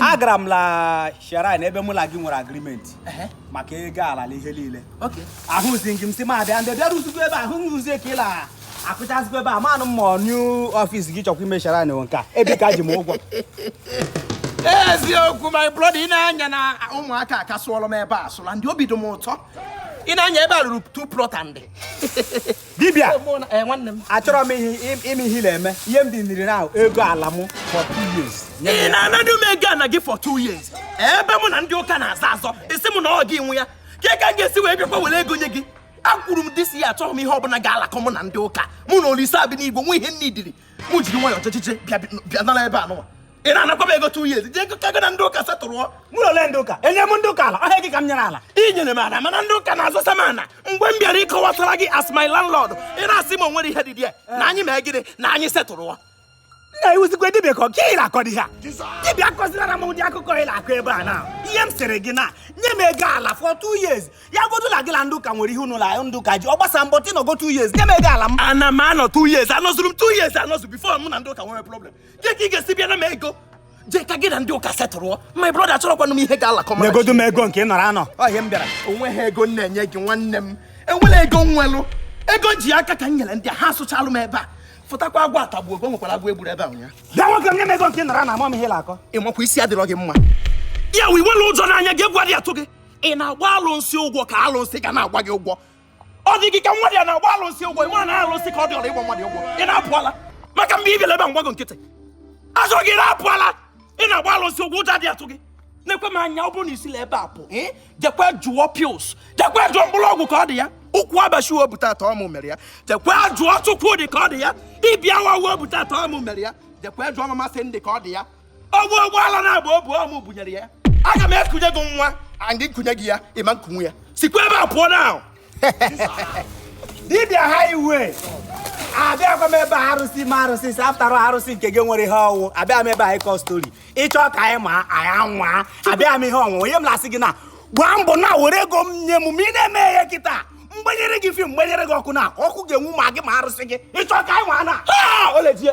agara m la shrine ebe mụ na gị nwere agreement maka ego ala na ihe niile ahụzighị m sị ma bịa ndị bịarụzikwa ebe ahụ nrụzie ka ị la akụchazikwa ebe a manụ m ma new office gị chọkwa ime shrine nwe nka ebe ị ka ji m ụgwọ eziokwu my brother i nee anya na ụmụaka ka sụọlọ m ebe a sụla ndị obi dị m ụtọ i nee anya ebe a ruru two plot and dibịa achọrọ m ime ihe na-eme ihe m dị niri ahụ ego ala m for two years ị na-anadị m ego ana gị for two years ebe mụ na ndị ụka na-azọ azọ ị sị m na ọ gị nwe ya kee ka m ga-esi wee bịakwa were ego nye gị akwuru m this year achọrọ m ihe ọbụla ga-alakọ mụ na ndị ụka mụ na olisa bi n'igwe nwe ihe nne idiri mụ jiri nwayọọ ọchịchịchị bịa nara ebe a nụwa ị na-anakwa m ego two years jee ka gị na ndị ụka setụrụọ mụ na ole ndị ụka enyere m ndị ụka ala ọhịa gị ka m nyere ala ị nyere m ala mana ndị ụka na-azọsa m ana mgbe m bịara ịkọwatara gị as my landlord ị na-asị m onwere ihe dị dị ya na anyị mee gịnị na anyị setụrụọ na ị wụzikwa dibịa ka ọka ị na-akọ dị ha dibịa akọzinara m ụdị akụkọ ị na-akọ ebe a na ihe m sịrị gị na nye m ego ala for two years ya godu na gị na ndị ụka nwere ihe unu na ndị ụka ji ọ gbasarọ m but ị nọgo two years nye m ego ala m ana m anọ two years anọzuru m two years anọzu before mụ na ndị ụka nwere problem Jee ka ị ga-esi bịara m ego. Jee ka gị na ndị ụka setụrụọ. My brother achọrọkwanụ m ihe ga-alakọ m. Nyegodu m ego nke ị nọrọ anọ. Ọ ihe m bịara. O nweghị ego m na-enye gị nwanne m. Enwerọ ego m nwelụ. Ego m ji aka ka m nyere ndị a ha asụchalụ m ebe a. Fụtakwa agwọ atagbuo gị o nwekwara agwọ e gburu ebe a ụnyaahụ. Bịa nwoke m nye m ego nke ị nọrọ anọ ama m ihe ị na-akọ. Ị makwa isi adịrọ gị mma. Ya wụ enwerọ ụjọ n'anya gị egwu adị atụ gị. Ị na-agba alụnsị ụgwọ ka alụnsị ga na-agba gị ụgwọ. ọ dị gị ka wa adị agba alụsị ụgwọ ị ma na alụsị ka ọ dị ọla ịgba mmadụ ụgwọ ị na-apụ ala maka mgbe ị bịara ebe a m gba gị nkịtị azụ gị na-apụ ala ị na-agba alụsị ụgwọ ụjọ adị atụ gị nekwe m anya ọ bụrụ na i si la ebe a pụ jekwe jụọ pils jekwe jụọ mkpụrụ ọgwụ ka ọ dị ya ụkwụ abashi o bu taata ọ mụ mere ya jekwe jụọ chukwudi ka ọ dị ya ibi awa o bu taata ọ mụ mere ya jekwe jụọ mama cindy ka ọ dị ya ọgwụ ụgbọala na-agba o bu ọ mụ bunyere ya aga m ekunye gị nwa and m kunye gị ya ị ma ekunwu ya sikwa ebe a pụọ na dibịa ha iwe abịakwa m ebe a arụsị ma arụsị si after all arụsị nke gị nwere ihe ọ wụ abịa m ebe a ịkọ story ị chọọ ka anyị nwaa anyị anwa abịa m ihe ọnwụnwa onye m na-asị gị na gbaa mbọ na were ego m nye m ma ị na-eme ya kịta m gbanyere gị film m gbanyere gị ọkụ na ọkụ ga-enwu ma gị ma arụsị gị ị chọọ ka anyị nwa na ha olejie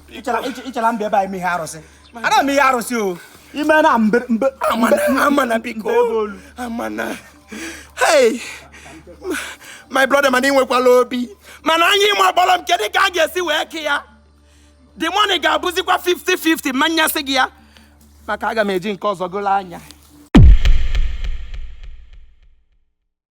ịchara mba ebe anyị mee ihe arụsị ana m ihe arụsị o ime na mbe mbe amana biko amana hey my brother mana ị nwekwala obi mana anyị ịma gbọrọ m kedu ka a ga-esi wee kee ya the money ga-abụzikwa 50-50 ma nyesị gị ya maka aga m eji nke ọzọ golo anya